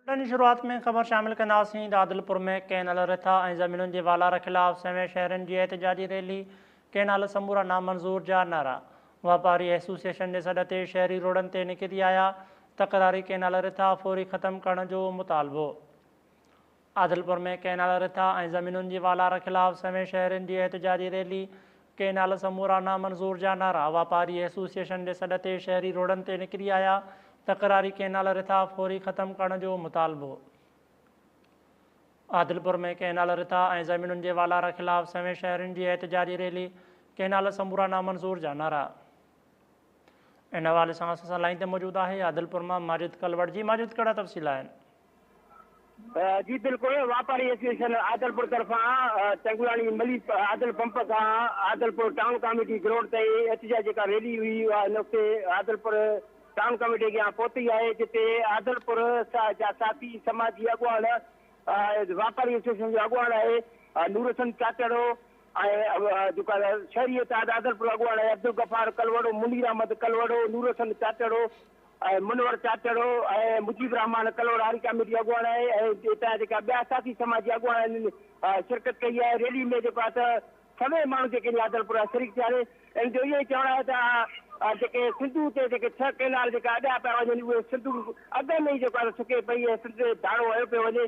Built-in جي شروعات ۾ خبر شامل ڪنداسين ته عادلپور ۾ ڪئنال رٿا ۽ زمينن جي والار خلاف سوين شهرين جي احتجاجي ريلي، ڪئنال سمورا نامنظور جا نعرا، واپاري ايسوسيئيشن جي سڏ تي شهري روڊن تي نڪري آيا، تڪراري ڪئنال رٿا فوري ختم ڪرڻ جو مطالبو. عادلپور ۾ ڪئنال رٿا ۽ زمينن جي والار خلاف سوين شهرين جي احتجاجي ريلي، ڪئنال سمورا نامنظور جا نعرا، واپاري ايسوسيئيشن جي سڏ تي شهري روڊن تي نڪري آيا، تڪراري ڪئنال رٿا فوري ختم ڪرڻ جو مطالبو. عادلپور ۾ ڪئنال رٿا ۽ زمينن جي والار خلاف سوين شهرين جي احتجاجي ريلي، ڪئنال سمورا نامنظور جا نعرا. ان حوالي سان اسان سان لائين تي موجود آهي عادلپور مان ماجد ڪلوڙ جي ماجد ڪهڙا تفصيل آهن جي بلڪل واپاري ايسوسيئيشن عادلپور طرفان چنگلاڻي ملي عادل پمپ کان عادلپور ٽائون ڪاميٽي گروڊ تائين احتجاج جيڪا ريلي هئي اها هن وقت عادلپور ٽائون ڪاميٽي اڳيان پهتي آهي جتي عادلپور جا ساٿي سماجي اڳواڻ واپاري ايسوسيئيشن جو اڳواڻ آهي نورحسن چاچڙو ۽ جيڪا شهري اتحاد عادلپور اڳواڻ ۽ عبدالغفار ڪلوڙو، منير احمد ڪلوڙو، نورحسن چاچڙو ۽ منور چاچڙو ۽ مجيب الرحمان ڪلوڙا هاري ڪاميٽي اڳواڻ ۽ اتان جا جيڪا ٻيا ساٿي سماجي اڳواڻ انهن شرڪت ڪئي آهي ريلي ۾ جيڪو آهي ته سوين ماڻهو جيڪي انهي عادلپور جا شريڪ ٿيا آهن ان جو اهو ئي چوڻ آهي ته آ جيڪي سنڌو تي جيڪي ڇهه ڪينال جيڪا اڏيا پيا وڃن اهي سنڌو اڳ ۾ ئي جيڪو آهي ته سڪي پئي ۽ سنڌ تي ڌاڙو هنيو پيو وڃي